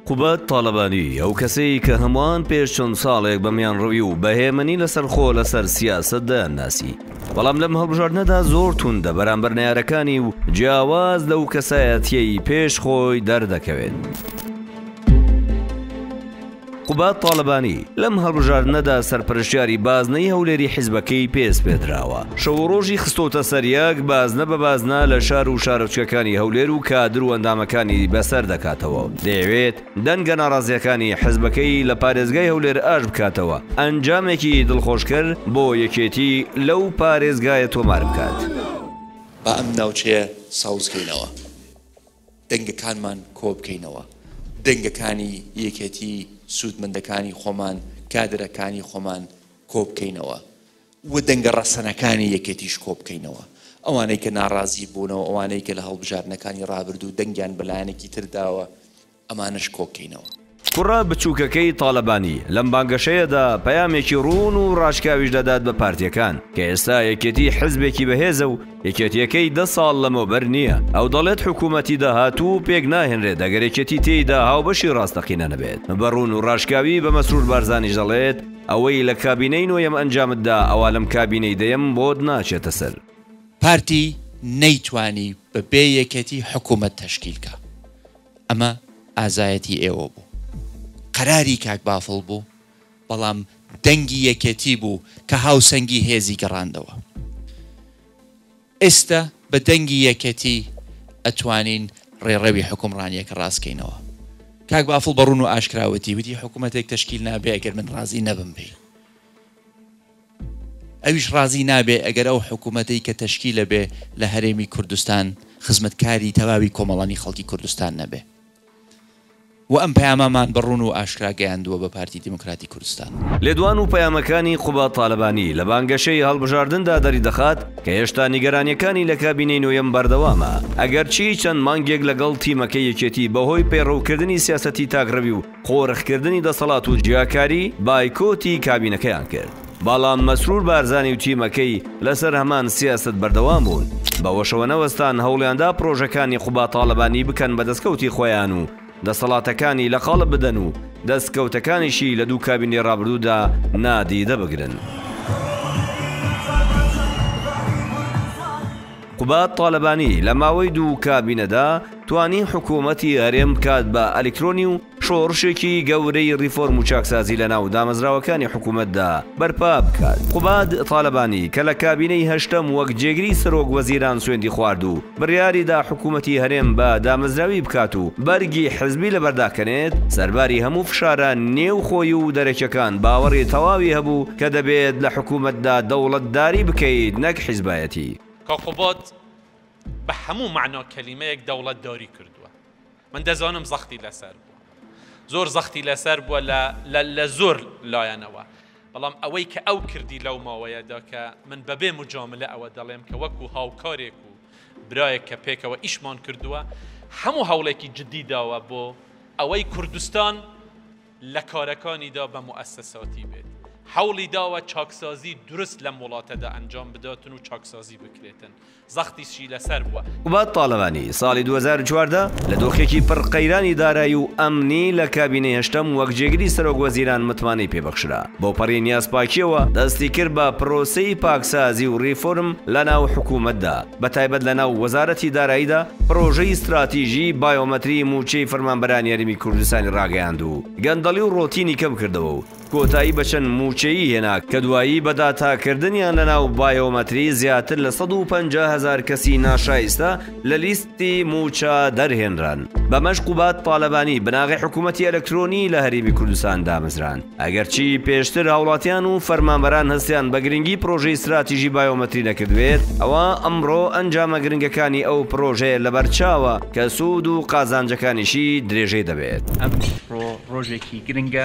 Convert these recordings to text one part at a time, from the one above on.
قوباد تاڵەبانی، ئەو کەسەی کە هەمووان پێش چەند ساڵێک بە میانڕەوی و بە هێمنی لەسەرخۆ لەسەر سیاسەت دەیانناسی، بەڵام لەم هەڵبژاردنەدا زۆر توندە بەرامبەر نەیارەکانی و جیاواز لەو کەسایەتییەی پێش خۆی دەردەکەوێت. قوباد تاڵەبانی، لەم هەڵبژاردنەدا سەرپەرشتیاری بازنەی هەولێری حیزبەکەی پێ سپێردراوە، شەو و رۆژی خستۆتە سەر یەک، بازنە بە بازنە لە شار و شارۆچکەکانی هەولێر و کادر و ئەندامەکانی بەسەر دەکاتەوە و دەیەوێت دەنگە ناڕازییەکانی حیزبەکەی لە پارێزگای هەولێر ئاش بکاتەوە ئەنجامێکی دڵخۆشکەر بۆ یەکێتی لەو پارێزگایە تۆمار بکات. با ئەم ناوچەیە ساوزکەینەوە. دەنگەکانمان کۆبکەینەوە، دەنگەکانی یەکێتی، سوودمەندەکانی خۆمان، کادرەکانی خۆمان کۆبکەینەوە و دەنگە ڕەسەنەکانی یەکێتیش کۆبکەینەوە، ئەوانەی کە ناڕازی بوونەوە، ئەوانەی کە لە هەڵبژاردنەکانی ڕابردوو دەنگیان بە لایەنێکی تر داوە، ئەمانەش کۆکەینەوە. کوڕە بچووکەکەی تالەبانی لەم بانگەشەیەدا پەیامێکی ڕوون و ڕاشکاویش دەدات بە پارتییەکان کە ئێستا یەکێتی حزبێکی بەهێزە و یەکێتییەکەی دە ساڵ لەمەوبەر نییە، ئەو دەڵێت حکوومەتی داهاتوو پێک ناهێنرێت ئەگەر یەکێتی تێیدا هاوبەشی ڕاستەقینە نەبێت بە ڕوون و ڕاشکاوی بە مەسرور بارزانیش دەڵێت ئەوەی لە کابینەی نۆیەم ئەنجامت دا ئەوا لەم کابینەی دەیەم بۆت ناچێتە سەر. پارتی نەیتوانی بە بێ یەکێتی حکوومەت تەشکیل کا. ئەمە ئازایەتی ئێوە بوو قەراری کاک بافڵ بوو بەڵام دەنگی یەکێتی بوو کە هاوسەنگی هێزی گەڕاندەوە ئێستە بە دەنگی یەکێتی ئەتوانین ڕێڕەوی حوکمڕانیەکە ڕاست کەینەوە کاک بافڵ بە ڕوون و ئاشکرا وتی وتی حکومەتێک تەشکیل نابێ ئەگەر من ڕازی نەبم بی ئەویش ڕازی نابێ ئەگەر ئەو حکوومەتەی کە تەشکیلە بێ لە هەرێمی کوردستان خزمەتکاری تەواوی کۆمەڵانی خەڵکی کوردستان نەبێ و ئەم پەیامەمان بە ڕوون و ئاشکرا گەیاندووە بە پارتی دیموکراتی کوردستان. لێدوان و پەیامەکانی قوباد تالەبانی لە بانگەشەی هەڵبژاردندا دەریدەخات کە هێشتا نیگەرانییەکانی لە کابینەی نۆیەم بەردەوامە، ئەگەرچی چەند مانگێک لەگەڵ تیمەکەی یەکێتی بەهۆی پەیڕەوکردنی سیاسەتی تاکڕەوی و قۆرخکردنی دەسەڵات و جیاکاری بایکۆتی کابینەکەیان کرد، بەڵام مەسرور بارزانی و تیمەکەی لەسەر هەمان سیاسەت بەردەوام بوون، بەوەشەوە نەوەستان هەوڵیاندا پرۆژەکانی قوباد تاڵەبانی بکەن بە دەستکەوتی خۆیان و دەسەڵاتەکانی لە قاڵب بدەن و دەستکەوتەکانیشی لە دوو کابینەی ڕابردوودا نادیدە بگرن. قوباد تاڵەبانی لە ماوەی دوو کابینەدا، توانی حکوومەتی هەرێم بکات بە ئەلیکترۆنی و شۆڕشێکی گەورەی ڕیفۆرم و چاکسازی لە ناو دامەزراوەکانی حکوومەتدا بەرپا بکات قوباد تالەبانی کە لە کابینەی هەشتەم وەک جێگری سەرۆک وەزیران سوێندی خوارد و بڕیاری دا حکوومەتی هەرێم بە دامەزراوی بکات و بەرگی حزبی لەبەر داکەنێت سەرباری هەموو فشارە نێو خۆی و دەرەکیەکان باوەڕی تەواوی هەبوو کە دەبێت لە حکوومەتدا دەوڵەتداری بکەیت نەک حزبایەتی. کە قوباد بە هەموو مەعنا کەلیمەیەک دەوڵەتداری کردووە من دەزانم زەختی لەسەر بووە زۆر زەختی لەسەر بووە لە زۆر لایەنەوە بەڵام ئەوەی کە ئەو کردی لەو ماوەیەدا کە من بەبێ مجاملە ئەوە دەڵێم کە وەکو هاوکارێک و برایەک کە پێکەوە ئیشمان کردووە هەموو هەوڵێکی جددی داوە بۆ ئەوەی کوردستان لە کارەکانیدا بە موئەسەساتی بێت حەوڵی داوە چاکسازی دروست لەم وڵاتەدا ئەنجام بداتن و چاکسازی بکرێتن زەختیشی لەسەر بووە. قوباد تاڵەبانی ساڵی دوو هەزار و چواردە لە دۆخێکی پڕ قەیرانی دارایی و ئەمنی لە کابینەی هەشتەم وەک جێگری سەرۆک وەزیران متمانەی پێ بەخشرا، بەوپەڕی نیازپاکییەوە دەستی کرد بە پرۆسەی پاکسازی و ریفۆرم لە ناو حکوومەتدا، بە تایبەت لە ناو وەزارەتی داراییدا پرۆژەی ستراتیژیی بایۆمەتریی مووچەی فەرمانبەرانی هەرێمی کوردستانی راگەیاند و گەندەڵی و رۆتینی کەم کردەوە و کۆتایی بە چەند مووچەیی هێنا کە دوایی بە داتاکردنیان لەناو بایۆمەتری زیاتر لە سەد و پەنجا هەزار کەسی ناشایستە لە لیستی مووچە دەرهێنران بەمەش قوباد تالەبانی بناغەی حکوومەتی ئەلەکترۆنی لە هەرێمی کوردستان دامەزراند ئەگەرچی پێشتر هاوڵاتیان و فەرمانبەران هەستیان بە گرنگی پرۆژەی ستراتیژی بایۆمەتری نەکردبێت ئەوا ئەمڕۆ ئەنجامە گرنگەکانی ئەو پرۆژەیە لەبەرچاوە کە سوود و قازانجەکانیشی درێژەی دەبێت. ئەمڕۆ ڕۆژێکی گرنگە.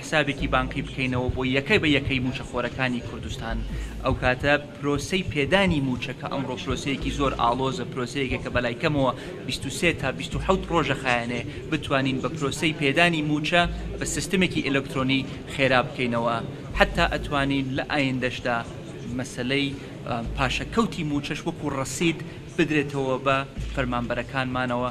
حسابێکی بانقی بکەینەوە بۆ یەکە بە یەکەی مووچەخۆرەکانی کوردستان، ئەوکاتە پرۆسەی پێدانی مووچە کە ئەمڕۆ پرۆسەیەکی زۆر ئاڵۆزە، پرۆسەیەکە کە بەلای کەمەوە بیست و سێ تا بیست و حەوت رۆژ ئەخایەنێ، بتوانین بە پرۆسەی پێدانی مووچە بە سیستمێکی ئەلکترۆنی خێرا بکەینەوە، حەتا ئەتوانین لە ئایندەشدا مەسەلەی پاشەکەوتی مووچەش وەکو رەسید بدرێتەوە بە فەرمانبەرەکانمانەوە،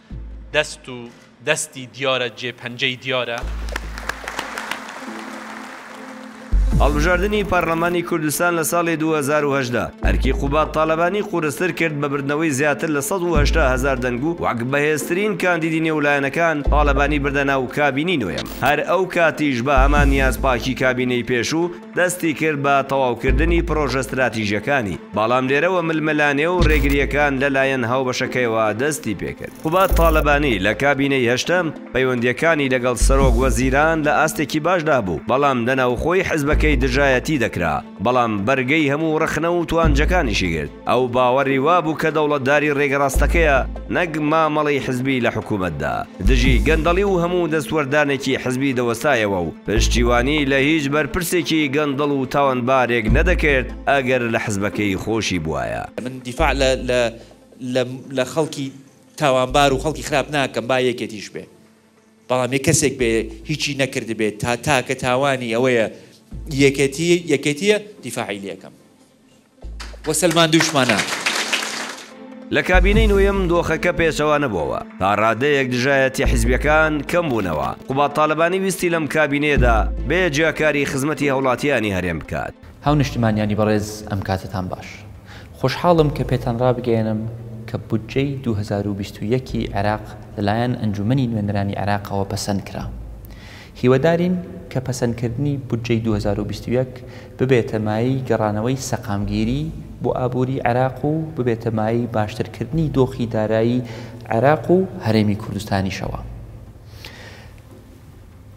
دەست و دەستی دیارە جێ پەنجەی دیارە. هەڵبژاردنی پەرلەمانی کوردستان لە ساڵی دوو هەزار و هەژدە ئەرکی قوباد تالەبانی قورستر کرد بە بردنەوەی زیاتر لە سەد و هەشتا هەزار دەنگ و وەک بەهێزترین کاندیدی نێو لایەنەکان تالەبانی بردە ناو کابینەی نۆیەم هەر ئەو کاتیش بە هەمان نیاز پاکی کابینەی پێشوو دەستی کرد بە تەواوکردنی پرۆژە ستراتیژەکانی، بەڵام لێرەوە ململانێ و رێگرییەکان لەلایەن هاوبەشەکەیەوە دەستی پێکرد. قوباد تالەبانی لە کابینەی هەشتەم، پەیوەندییەکانی لەگەڵ سەرۆک وەزیران لە ئاستێکی باشدا بوو، بەڵام لە ناوخۆی حزبەکەی دژایەتی دەکرا، بەڵام بەرگەی هەموو رەخنە و توانجەکانیشی گرت. ئەو باوەڕی وابوو کە دەوڵەتداری ڕێگە ڕاستەکەیە نەک مامەڵەی حزبی لە حکوومەتدا، دژی گەندەڵی و هەموو دەستوەردانێکی حزبی دەوەستایەوە و پشتیوانی لە هیچ بەرپرسێکی گەندەڵ و تاوانبارێک نەدەکرد ئەگەر لە حزبەکەی خۆشی بوایە. من دیفاع لە خەڵکی تاوانبار و خەڵکی خراپ ناکەم با یەکێتیش بێ، بەڵام یە کەسێک بێ هیچی نەکردبێ تا تاکە تاوانی ئەوەیە یەکێتیە یەکێتیە دیفاعی لێ ئەکەم. و سەلماندووشمانە. لە کابینەی نۆیەم دۆخەکە پێچەوانە بۆوە، تا ڕادەیەک دژایەتیە حیزبیەکان کەم بوونەوە، قوباد تالەبانی ویستی لەم کابینەیەدا بێ جیاکاری خزمەتی هەوڵاتیانی هەرێم بکات. هاونشتمانیانی بەڕێز ئەم کاتەتان باش. خۆشحاڵم کە پێتان ڕابگەیەنم کە بودجەی دوو هەزار و بیست و یەک ی عێراق لەلایەن ئەنجومەنی نوێنەرانی عێراقەوە پەسەند کرا. هیوادارین کە پەسەندکردنی بودجەی دوو هەزار و بیست و یەک ببێتە مایەی گەڕانەوەی سەقامگیری بۆ ئابووری عێراق و ببێتە مایەی باشترکردنی دۆخی دارایی عێراق و هەرێمی کوردستانیشەوە.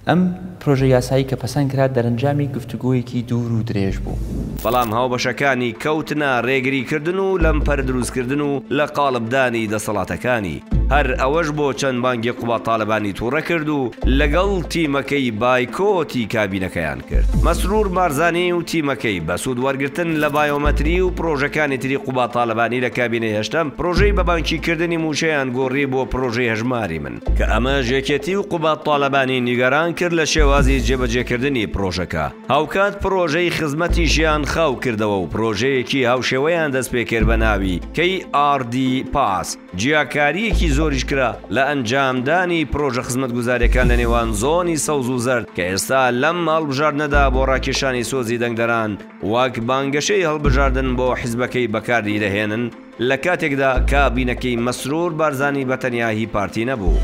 ئەم پرۆژە یاسایی کە پەسەند کرا دەرەنجامی گفتوگۆیەکی دوور و درێژ بوو. بەڵام هاوبەشەکانی کەوتنە رێگریکردن و لەمپەر دروستکردن و لە قاڵبدانی دەسەڵاتەکانی. هەر ئەوەش بۆ چەند مانگی قوباد تالەبانی توڕە کرد و لەگەڵ تیمەکەی بایکۆتی کابینەکەیان کرد. مەسرور بارزانی و تیمەکەی بە سوود وەرگرتن لە بایۆمەتری و پرۆژەکانی تری قوباد تالەبانی لە کابینەی هەشتەم پرۆژەی بە بانکی کردنی مووچەیان گۆڕی بۆ پرۆژەی هەژماری من، کە ئەمەش یەکێتی و قوباد تالەبانی نیگەران کرد لە شێوازی جێبەجێ کردنی پرۆژەکە. هاوکات پرۆژەی خزمەتیشیان خاو کردەوە و پرۆژەیەکی هاوشێوەیان دەست پێ کرد بە ناوی KRD Pass. جیاکارییەکی زۆریش کرا لە ئەنجامدانی پرۆژە خزمەتگوزارییەکان لە نێوان زۆنی سەوز و زەرد کە ئێستا لەم هەڵبژاردنەدا بۆ ڕاکێشانی سۆزی دەنگدەران وەک بانگەشەی هەڵبژاردن بۆ حزبەکەی بەکاریدەهێنن لە کاتێکدا کابینەکەی مەسرور بارزانی بە تەنیا هی پارتی نەبوو.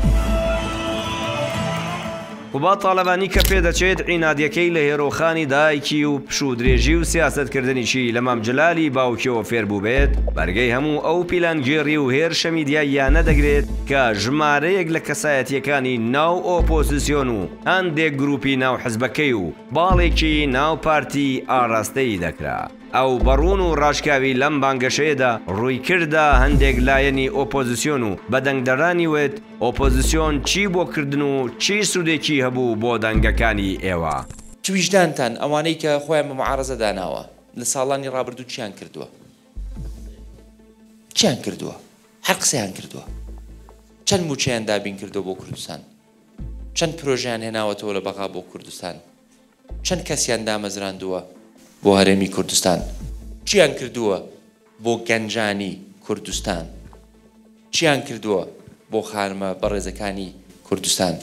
قوباد تاڵەبانی کە پێدەچێت عینادیەکەی لە هێرۆخانی دایکی و پشوودرێژی و سیاسەتکردنیی لە مام جەلالی باوکیەوە فێربووبێت، بەرگەی هەموو ئەو پیلانگێڕی و هێرشە میدیاییانە دەگرێت کە ژمارەیەک لە کەسایەتییەکانی ناو ئۆپۆزسیۆن و هەندێک گرووپی ناو حزبەکەی و باڵێکی ناو پارتی ئاراستەی دەکرا. ئەو بە ڕوون و ڕاشکاوی لەم بانگەشەیەدا ڕووی کردە هەندێک لایەنی ئۆپۆزسیۆن و بە دەنگدەرانی وت، ئۆپۆزسیۆن چی بۆ کردن و چی سودێکی هەبوو بۆ دەنگەکانی ئێوە؟ چ ویژدانتان ئەوانەی کە خۆیان بە معارەزە داناوە لە ساڵانی ڕابردوو چیان کردووە؟ چیان کردووە؟ هەر قسەیان کردووە. چەند مووچەیان دابین کردووە بۆ کوردستان؟ چەند پرۆژەیان هێناوەتەوە لە بەغا بۆ کوردستان؟ چەند کەسیان دامەزراندووە بۆ هەرێمی کوردستان؟ چیان کردووە بۆ گەنجانی کوردستان؟ چیان کردووە بۆ خانمە بەڕێزەکانی کوردستان؟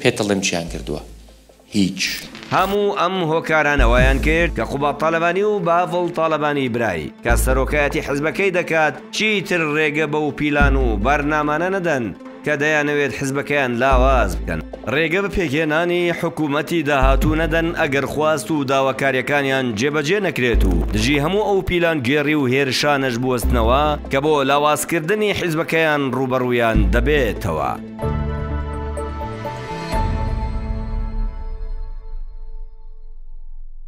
پێتەڵێم چیان کردووە؟ هیچ. هەموو ئەم هۆکارانە وایان کرد کە قوباد تالەبانی و باڤڵ تالەبانی برای، کە سەرۆکایەتی حزبەکەی دەکات، چیتر رێگە بەو پیلان و بەرنامانە نەدەن، کە دەیانەوێت حزبەکەیان لاواز بکەن، رێگە بە پێکهێنانی حکومەتی داهاتوو نەدەن ئەگەر خواست و داواکاریەکانیان جێبەجێ نەکرێت و دژی هەموو ئەو پیلانگێڕی و هێرشانەش بوەستنەوە کە بۆ لاوازکردنی حزبەکەیان رووبەڕوویان دەبێتەوە.